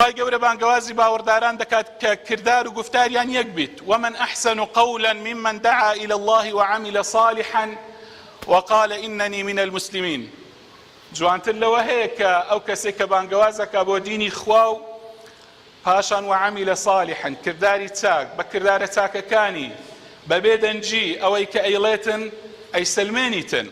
خوای گەورە بانگەوازی باوەڕداران دەکات کە کردار و گوفتاریان یەک بیت، ومن احسن قولا ممن دعا الی اللە وعمل صالحا وقال اننی من المسلمین جوانتر لەوە هەیە کە ئەو کەسەی کە بانگەواز ئەکا بۆ دینی خوا و پاشان وعمل صالحا کرداری چاک بە کردارە چاکەکانی بە بێ دەنگی ئەوەی کە ئەیڵێتن ئەیسەلمێنیتن.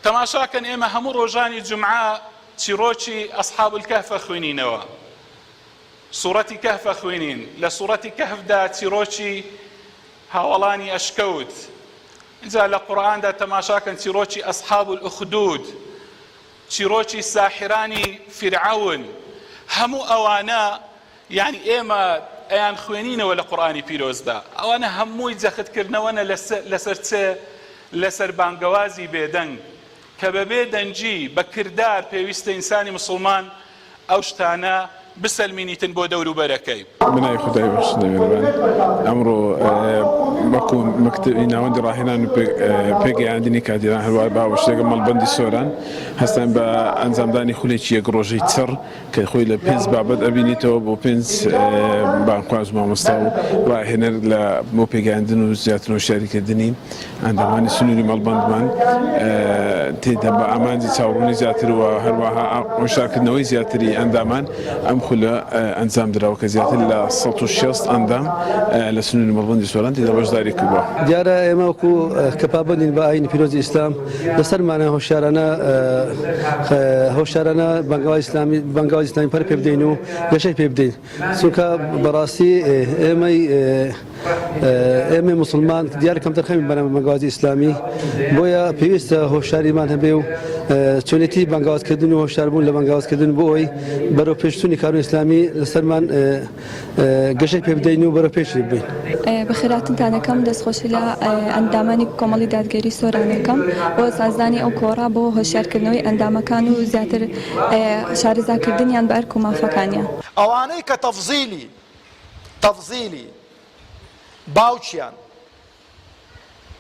تەماشاکەن ئێمە هەموو ڕۆژانی جومعە چیڕۆکی اصحاب الکهف ئەخوینینەوە سوڕەتی کهف ئەخوینین لە سوڕەتی کهفدا چیڕۆکی هاوەڵانی ئەشکەوت جا لە قورئاندا تەماشاکەن چیڕۆکی اصحاب الاخدود چیڕۆکی ساحرانی فرعون هەموو ئەوانە یانی ئێمە ئەیان خوێنینەوە لە قورئانی پیرۆزدا ئەوانە هەمووی جەخت کردنەوەنە لەسەر چ لەسەر بانگەوازی بێدەنگ کە بەبێ دەنگی بە کردار پێویستە ئینسانی مسوڵمان ئەو شتانە بسەلمینیتن بۆ دەوروبەرەکەی. بناوی خودای بەخشندە میهرەبان ئەمڕۆ وەکو مەکتەبی ناوەندی ڕاهێنان و پێگەیاندنی کادیران هەروەها بە هاوبەشی لەگەڵ مەڵبەندی سۆران هەستاین بە ئەنجامدانی خولێکی یەک ڕۆژەی چڕ کە خۆی لە پێنج بابەت ئەبینێتەوە بۆ پێنج بانگخواز و مامۆستا و ڕاهێنەر لە بۆ پێگەیاندن و زیاتر هۆشیاریکردنی ئەندامانی سنووری مەڵبەندمان تێدا بە ئامانجی چاوڕوونی زیاتر و هەروەها هۆشدارکردنەوەی زیاتری ئەندامان ئەم خولە ئەنجام دراوە کە زیاتر لە سەد و شەست ئەندام لە سنووری مەڵبەندی سۆران تێدا بەشداری کردووە. دیارە ئێمە وەکوو کە پابەندین بە ئایینی پیرۆزی ئیسلام، لەسەر مانای هۆشیارانە هۆشیارانە بەنگاوی ئیسلامی بەنگاوی ئیسلامی پەر پێ بدەین و گەشەی پێ بدەین چونکە بەڕاستی ئێمەی ئێمە مسلمان دیار کەم دەرخەمی بەنە بەنگاوی ئیسلامی بۆیە پێویستە هۆشیاریمان هەبێ و چۆنێتی بەنگاوتکردن و هۆشاربوون لە بەنگاوتکردن بۆ ئەوی بەرەو پێشتونی کارو ئیسلامی لەسەرمان گەشەی پێبدەین و بەرە پێشی بین بەخێراتنتانەکەم دەستخۆشی لە ئەندامانی کۆمەڵی دادگەری سۆرانەکەم بۆ سازدانی ئەو کۆڕا بۆ هۆشیارکردنەوەی ئەندامەکان و زیاتر شارەزاکردنیان بە ئەرک و مافەکانیان ئەوانەی کە تەفزیلی تەفزیلی باوکیان،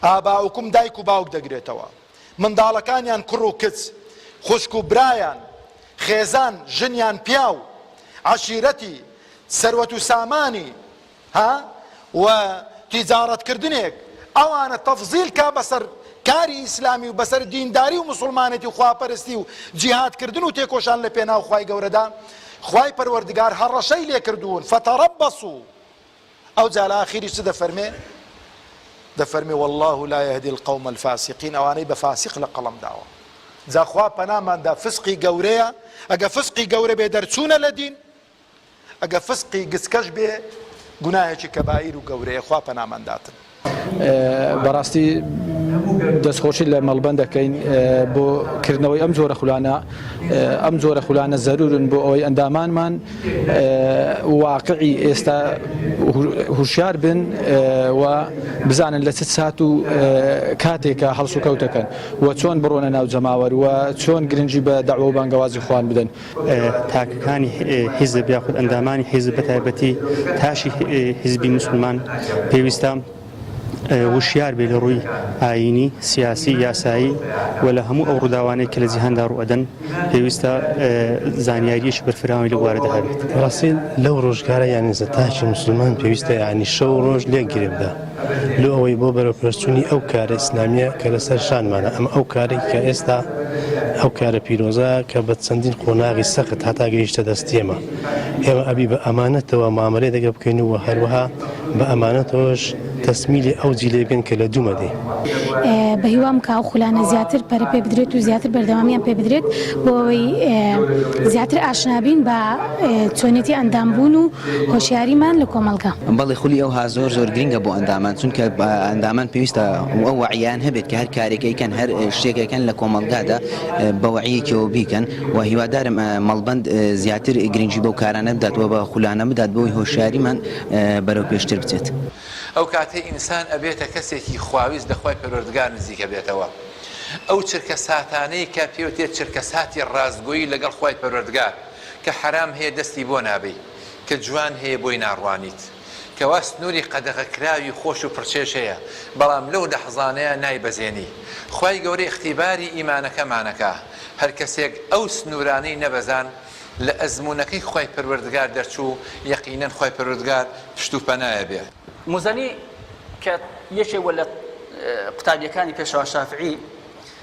آباؤکم، دایک و باوک دەگرێتەوە. منداڵەکانیان کوڕ و کچ، خوشک و برایان، خێزان، ژن یان پیاو، عەشیرەتی، سەروەت و سامانی، ها، و تیجارەت کردنێک، ئەوانە تەفزیل کا بەسەر کاری ئیسلامی و بەسەر دینداری و موسڵمانێتی و خواپەرستی و جیهاد کردن و تێکۆشان لە پێناو خوای گەورەدا، خوای پەروەردگار هەڕەشەی لێکردوون، فتربصوا. ئەوجا لە ئاخیریش چ دەفەرمێ؟ دەفەرمێ واللە لا یهدی القوم الفاسقین ئەوانەی بە فاسق لە قەڵەم داوە جا خوا پەنامان دا فسقی گەورەیە ئەگە فسقی گەورە بێ دەرچوونە لە دین ئەگە فسقی گچکەش بێ گوناهێکی کەبائیر و گەورەیە خوا پەنامان داتن بەڕاستی دەستخۆشی لە مەڵبەند دەکەین بۆ کردنەوەی ئەم جۆرە خولانە ئەم جۆرە خولانە زەرورن بۆ ئەوەی ئەندامانمان واقعی ئێستا هوشیار بن و بزانن لە چ سات و کاتێکە هەڵسوکەوتەکەن و چۆن بڕۆنە ناو جەماوەر و چۆن گرنگی بە داوە و بانگەوازی خوان بدەن تاکەکانی حیزب یاخود ئەندامانی حیزب بە تایبەتی تاشی حیزبی مسلمان پێویستە وشیار بێ لە ڕووی ئاینی سیاسی یاسایی و لە هەموو ئەو ڕووداوانەی کە لە جیهاندا ڕوەدەن پێویستە زانیاریش بەرفراوی لە بوارەدا هەبێت ڕاستین لەو ڕۆژگارە یانزە تاکی مسلمان پێویستە ینی شەو ڕۆژ لێک گرێبدا لۆ ئەوەی بۆ بەرەو پێشچونی ئەو کارە ئیسلامیە کە لەسەر شانمانە ئەم ئەو کارێک کە ئێستا ئەو کارە پیرۆزە کە بە چەندین قۆناغی سەخت هەتا گەیشتە دەستیێمە ئێمە ئەبی بە ئەمانەتەوە مامەێ دەگە بکەین و هەروەها بە ئەمانەتەوەش تەسمیلی ئەو جیلێ بێن کە لە دوومەدی بەهیوام کا و خولانە زیاتر پەرە پێ بدرێت و زیاتر بەردەوامیان پێ بدرێت بۆەوەی زیاتر ئاشنابین بە چۆنێتی ئەندام بوون و هۆشیاریمان لە کۆمەڵگە. بەڵێ خولی ئەوها زۆر زۆر گرنگە بۆ ئەندامان چونکە ئەندامان پێویستە ئەو وەعیان هەبێت کە هەر کارێک ئەیکەن هەر شتێک ئەکەن لە کۆمەڵگادا بە وەعیەکەوە بیکەن و هیوادارم مەڵبەند زیاتر گرنگی بەو کارانە بدات و بە خولانە بدات بۆی هۆشیاریمان بەرەو پێشتر بچێت. ئەو کاتەی ئینسان ئەبێتە کەسێکی خواویست لە خوای پەروەردگار نزیک ئەبێتەوە ئەو چرکەساتانەی کە پێوتێت چرکەساتی ڕاستگۆیی لەگەڵ خوای پەروەردگار کە حەرام هەیە دەستی بۆ نابەی، کە جوان هەیە بۆی ناڕوانیت، کەوا سنوری قەدەغە کراوی خۆش و پڕچێژ هەیە، بەڵام لەو لەحزانەیا نایبەزێنی، خوای گەورە ئیختیباری ئیمانەکەمانەکا، هەرکەسێک ئەو سنورانەی نەبەزان لە ئەزمونەکەی خوای پەروەردگار دەرچوو، یەقینەن خوای پەروەردگار پشت و پەنایە بێ. موزەنی کە یەکێک بووە لە قوتابیەکانی پێشەوا شافعی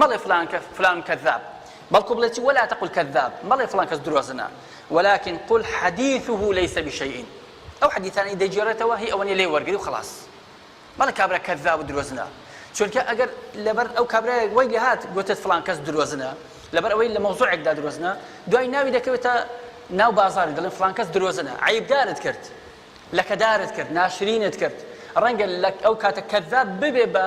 مەڵێ فلان کەس فلان کذاب بەڵکو بڵێ چی ولا تقل کذاب مەڵێ فلان کەس درۆزنە ولكن قل حديثه ليس بشيء ئەو حەدیثانەی دەگێڕێتەوە هی ئەوەنی لێ وەرگری و خلاص مەڵە کابرا کذاب و درۆزنە چونکە ئەگەر لەبەر ئەو کابراەک وای لە هات گوتت فلان کەس درۆزنە لەبەر ئەوەی لە مەوزوعێکدا درۆزنە دوای ناوی دەکەوێتە ناو بازاری دەڵێن فلان کەس درۆزنە عیبدارت کرد لەکەدارت کرد ناشرینت کرد ڕەنگە لە ئەو کاتە کەذاب ببێ بە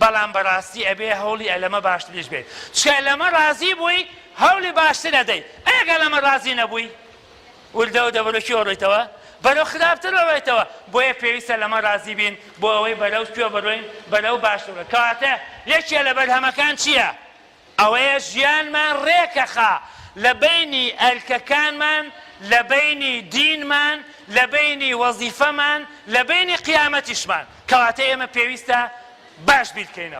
بەڵام بەڕاستی ئەبێ هەوڵی ئەلەمە باشتریش بێت چکە لەمە ڕازی بووی هەوڵی باشتر ئەدەی ئەگە لەمە ڕازی نەبووی وردەوە دەبەرە کێ ڕۆیتەوە بەرەو خراپتر ڕۆیتەوە بۆیە پێویستە لەمە ڕازی بین بۆ ئەوەی بەرەو کوێ بڕۆین بەرەو باشتر کەواتە یەکێ لە بەرهەمەکان چییە؟ ئەوەیە ژیانمان ڕێکەخا لە بەینی ئەرکەکانمان، لە بەینی دینمان، لە بەینی وەزیفەمان، لە بەینی قیامەتیشمان. کەواتە ئێمە پێویستە باش بیرکەینەوە.